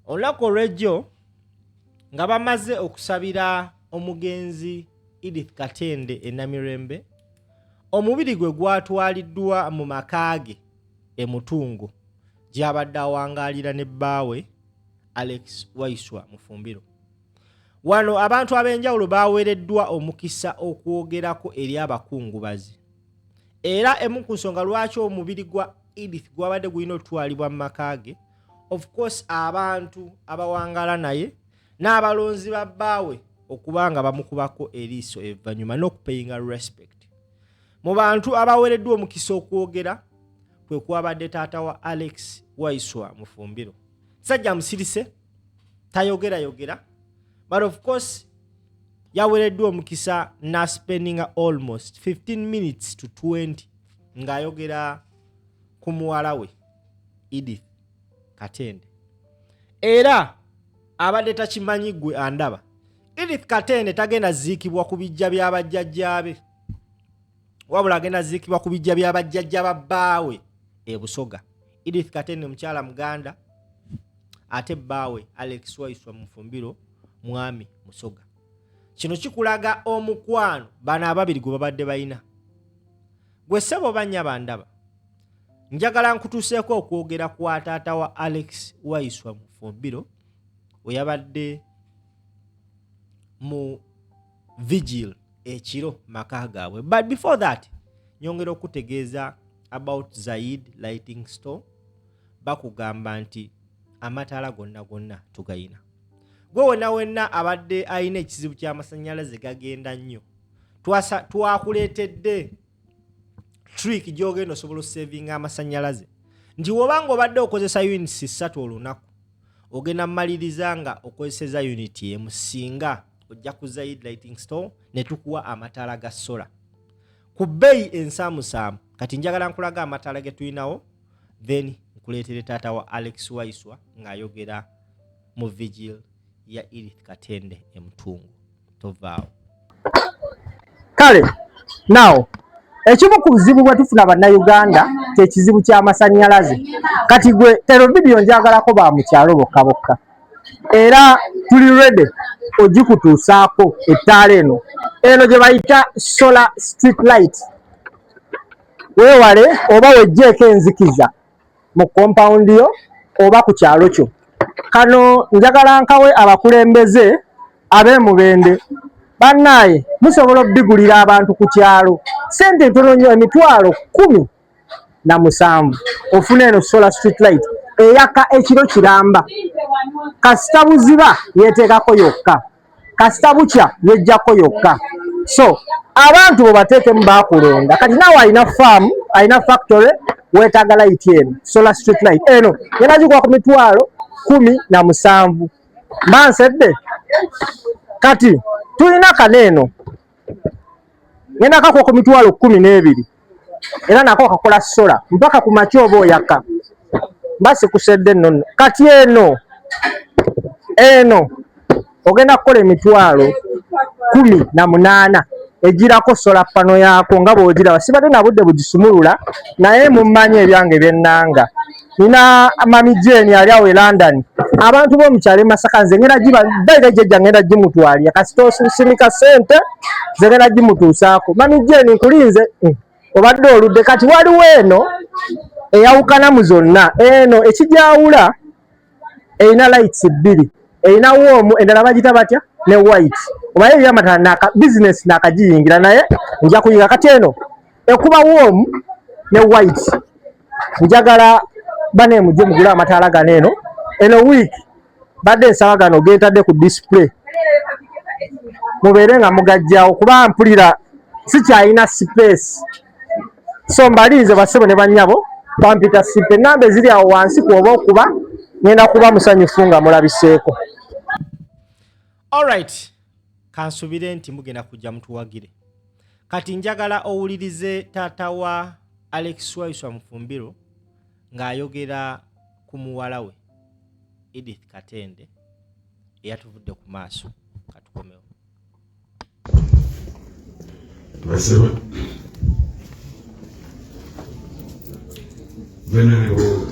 olunaku olwejjo nga bamaze okusabira omugenzi edith katende enamirembe omubiri gwe gwatwaliddwa mu maka ge emutungo gyabadde awangaalira ne bbaawe alex waiswa mufumbiro wano abantu ab'enjawulo baweereddwa omukisa okwogerako eri abakungubazi era emu ku nsonga lwaki omubiri gwa edith gwabadde gulina okutwalibwa mu maka ge of course abantu abawangala naye n'abalonzi ba bbaawe okuba nga bamukubako eriiso evanyuma n'okupeyinga respect mu bantu abawereddwa omukisa okwogera kwe kwabadde taata wa alex waiswa mufumbiro sajja musirise tayogerayogera but of course yawereddwa omukisa naspendinga almost 15 minutes to 20 ng'ayogera ku muwala we Edith Katende era abadde takimanyi gwe andaba. Edith Katende tagenda ziikibwa ku bijja bya bajjajjaabe, wabula agenda ziikibwa ku bijja bya bajjajja ba bbaawe e Busoga. Edith Katende mukyala Muganda ate bbaawe Alex Waiswa Mufumbiro mwami Musoga. Kino kikulaga omukwano bano ababiri gwe babadde balina. Gwe ssebo oba nnyabo andaba. njagala nkutuseeko okwogera kwa taata wa alex waiswa mufumbiro weyabadde mu vigil ekiro maka gaabwe but before that nyongera okutegeeza about zaid lighting store bakugamba nti amataala gonna gonna tugayina gwe wena wenna abadde alina ekizibu kyamasanyalaze gagenda nnyo twakuleetedde trick gyogenda osobola osavinga amasanyalaze nti woba nga obadde okozesa units ssatu olunaku ogenda mumaliriza nga okozeseza unit emu singa ojja ku zaid lighting store netukuwa amataala ga sola ku bbeeyi ensaamusaamu kati njagala nkulaga amataala getulinawo then nkuleetere taata wa alex waiswa ng'ayogera mu vigil ya edith katende emutungu tovaawo kale nawo ekimu ku buzibu bwe tufuna bannayuganda kye kizibu ky'amasannyalaze kati gwe ero vidiyo njagalako ba mukyalo bokka bokka era tuli rede ogikutuusaako ettaala eno eno gye bayita solar street light weewale oba wejjeeko enzikiza mu compound yo oba ku kyalo kyo kano njagala nkawe abakulembeze abemubende bannaaye musobola okubigulira abantu ku kyalo sente ntono nnyo emitwalo kumi na musanvu ofuna eno solar street light eyaka ekiro kiramba kasita buziba yeteekako yokka kasita bukya yejjako yokka so abantu bobateekemu bakulonda kati nawe alina faamu alina factory wetaaga layiti eno solar street light eno yebagikuwa ku mitwalo kumi na musanvu mba nsedde kati tulina kano eno ngenda kako ku mitwalo kumi n'ebiri era nako kakola sola mpaka ku makya oba oyaka mba sikusedde nonno kati eno eno ogenda kukola emitwalo kumi na munaana egirako sola pano yaako nga bwogiraba sibadde na budde bugisumulula naye mummanyi ebyange byennanga nina mami jeni ali awo e london abantu bomukyalo emasaka nze ngenda giba baira jejja ngenda gimutwalira kasita osusimika sente nze ngenda gimutuusaako mami jeni nkulinze hmm, obadde oludde kati waliwo eno eyawukana mu zonna eno ekigyawula erina lights bbiri erina woomu endala bagita batya ne white obaye ebyamatala bizinesi nakagiyingira naye nja kuyinga kati eno ekuba warm ne white njagala bane mujje mugula amataala gano eno eno week badde nsaba gano gentadde ku display mubeere nga mugajjawo kuba mpulira sikyalina space so mbalinze basebo ne banyabo bampita sipe enamba eziri awo wansi kwoba okuba ngenda kuba musanyufu nga mulabiseeko alright kansubire nti mugenda kujja mutuwagire kati njagala owulirize taata wa alex waiswa mufumbiro ng'ayogera ku muwala we edith katende eyatuvudde ku maaso katukomewo basaba venerable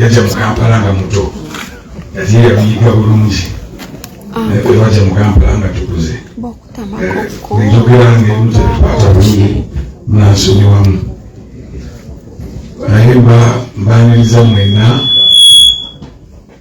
yajja mu kampala nga muto ate yabiyiga bulungi ah. naye bwe bajja mu kampala nga tukuze enjogera ng'emu tetukwata bulungi munansonyiwamu naye mbaniriza mwenna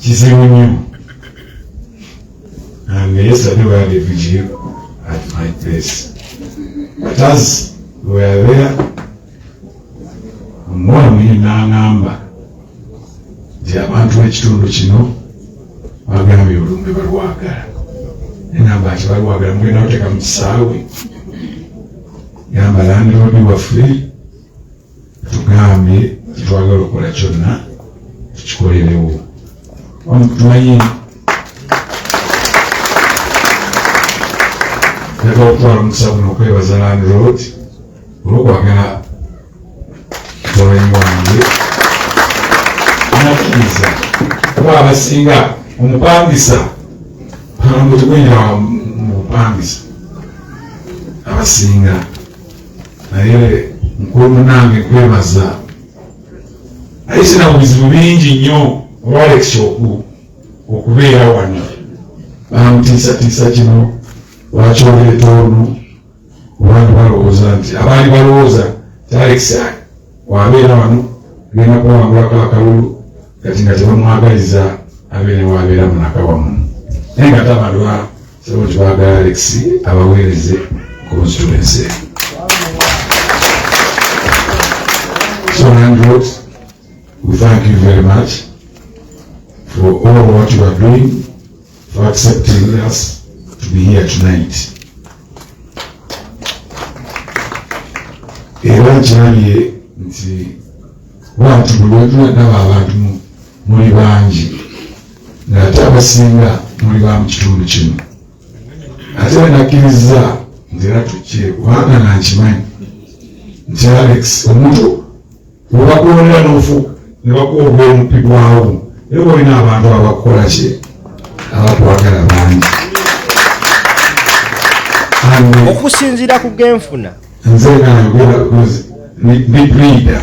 kizibu nnyo and yesterday we had a vigil at my place but as we were there omwami n'aŋamba nti abantu b'ekitundu kino bagambye olumbe balwagala enamba nti balwagala mugenda kuteeka mu kisaawe yamba landlord waffe tugambye tetwagala okukola kyonna tukikolerewo tumanyi njagala okutwala omukisa guno okwebaza landlord olwokwagala mutabani wange nakkiriza kuba abasinga omupangisa kano gwenyina mu bupangisa abasinga naye mukulu munange kwebaza naye sina buzibu bingi nnyo olwalekisooku okubeera wano bamutiisatiisa kino lwaki oleeta ono abantu balowooza nti abaali balowooza talekisa wabeera wano genda kuwangulako akalulu kati nga tebamwagaliza abeere wabeera munaka wamu naye nga tabalwa Sebo twagala Alex abaweereze constituency. So Andrew, we thank you very much for all what you are doing, for accepting us to be here tonight. Era nkyalye nti wantu buli wetula ndaba abantu muli bangi ng'ate abasinga muli ba mu kitundu kino ate banakkiriza nti era tukkire kubanga nankimanyi nti alex omuntu webakulonera nofu ne bakuwa obwomuppi bwawo naye bolina abantu abakukola kye abakwagala bangi okusinziira ku genfuna nze nayogera big leader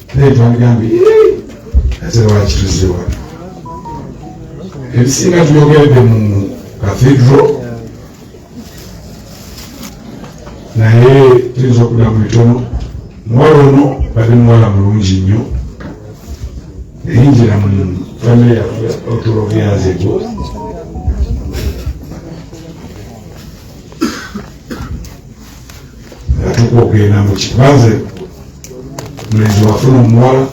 naye twandgambe ate lwakituze wano ebisinga tuyogeredde mu kathedro naye tuyinza okuda mu bitono muwala ono bade muwala mulungi nnyo eyingira mu famire yaffe otulobyanzego atuuka okugenda mu kibanze mulenzi wafuna omuwala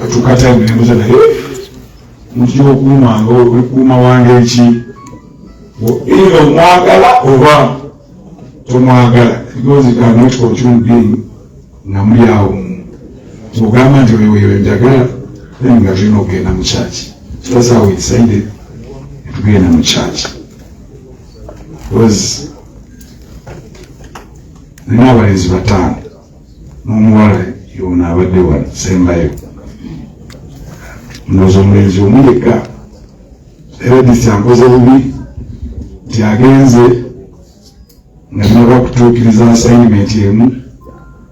atuuka taimu nembuza naye muti okuumanga olikuuma wange eki either omwagala oba tomwagala because you cannot control being nga muli awo ogamba nti oyo weyo njagala then nga tulina okugenda mu kyaki so that's how we decided tugenda mu kyaki nina abalenzi bataano n'omuwala yoona abadde wano sembayo noza omulenzi omu yekka era disi ankoze bubi nti agenze nga naba kutuukiriza asayinimenti emu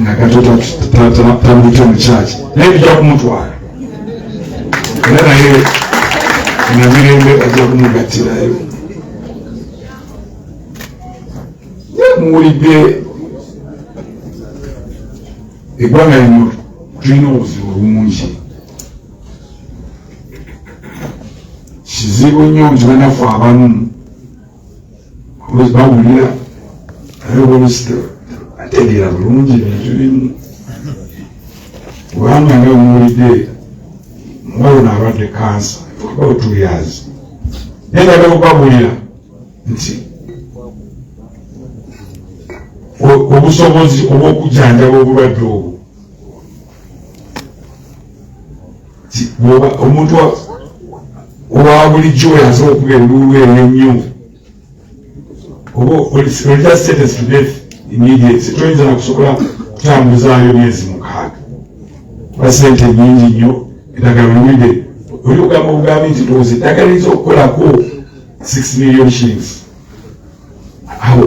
nga katoto tamulite mu kyaki naye bijja kumutwala era naye namirembe ajja kumugattirayo muwulidde eggwanga lino tulina obuzibu bungi kizibu nnyo nti banafu abamu Because bawulira ayobolesita ategeera bulungi ebintu bimu kubanga nga muwulidde muwalona abadde kansa about two years naye nga bakubabulira nti obusobozi obw'okujanjaba obulwadde obwo omuntu owa bulijjo oyo asobola okuba enduulu eyo ennyo oba olina sente student immediate toyinza nakusobola kutambuzaayo myezi mukaaga oba sente nyingi nnyo eddagala olwide oli ogamba obugambi nti ndowooza eddagala eyinza okukolako six million shillings awo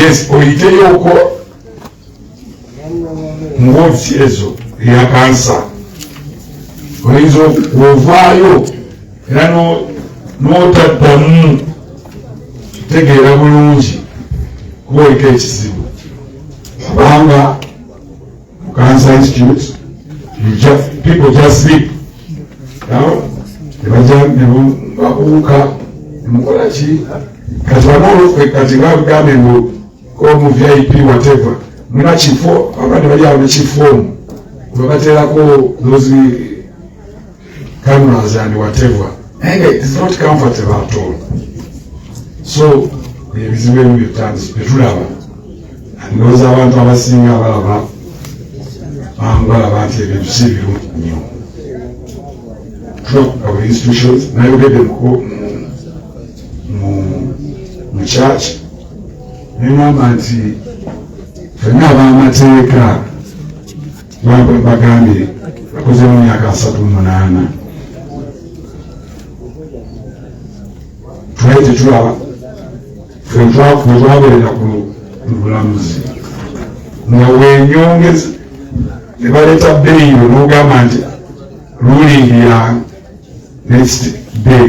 yes oyiteyoko muwofisi ezo eya kansa oyinza ovaayo era n'otaddamu tegeera bulungi kuba oliko ekizibu kubanga Cancer Institute, you just, people just sleep. Now, nebaja nebakuuka mukola ki kati banolokwe kati bagambye mbu omu vip whatever muna kifo abandi bali awo nekifo omu webaterako those cameras and whatever naye nga it is not comfortable at all so ebizibu ebimu byetandisi byetulaba ndowooza abantu abasinga abalaba bambalaba nti ebintu si biru nnyo tubakukawa institutions nayogedde mu church nengamba nti fenna abamateeka bagambye akozemu myaka asatu munaana twali tetulaba fetwaberera ku bulamuzi nga wenyongeza nebaleeta beeyo nogamba nti lulingi ya next day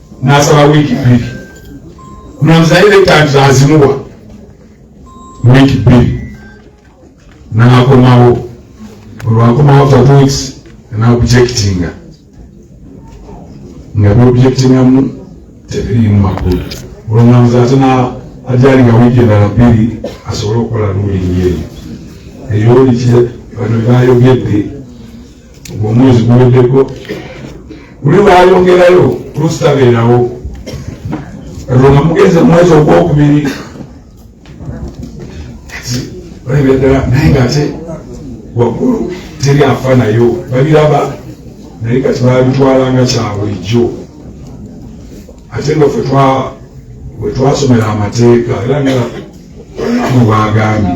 n'asaba wiiki bbiri omulamuzi naye lekanti azimuwa wiiki bbiri n'akomawo olwakomawo for two weeks n'objectinga nga byobjectingamu tebiriimu makulu olwomulamuzi ate ajali nga wiiki endala bbiri asobole okukola lulingi eyo eyo oli bano byayogedde omwezi guweddeko luli lwayongerayo lusitabeerawo katonda mugenze mwezi ogwokubiri olabira ddala naye nga ate waggulu teri afa nayo babiraba naye kati babitwalanga kyabulijjo ate nga fe wetwasomera amateeka era nga mubagambye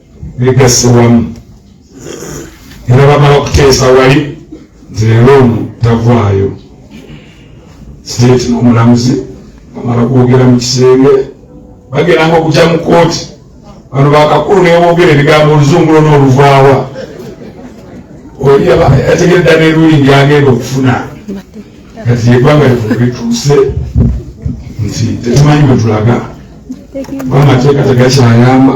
bigasse wamu era bamala okuteesa wali nti leero ono tavaayo siteeti n'omulamuzi bamala kwogera mu kisenge bageranga okugya mu kooti bano bakakulu newogera ebigambo oluzungu lona oluvaawa oli yategereda neruli ndyagenda okufuna kati egwanga lituuse nti tetumanyi bwetulaga amateeka tegakyayamba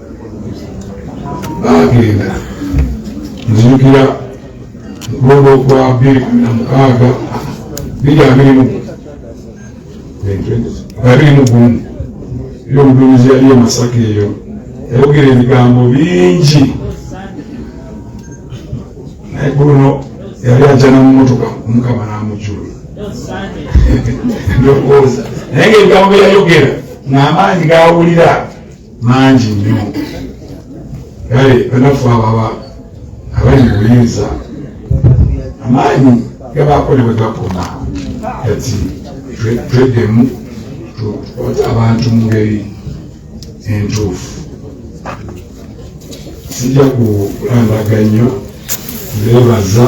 baagenda nzijukira mutunda okwa bbiri kumi na mukaaga biri abiri mu abiri mu gumu eri omuduumizi yali e masaka eyo yayogera ebigambo bingi naye guno yali ajana mu motoka omukama n'amujula ndowooza naye ngaebigambo byeyayogera ng'amaanyi gawulira mangi nnyo kale banafu ababa abali mu buyinza amaanyi gabaako ne bwe gakoma kati tweddemu tukwate abantu mu ngeri entuufu sijja kulambaga nnyo ndeebaza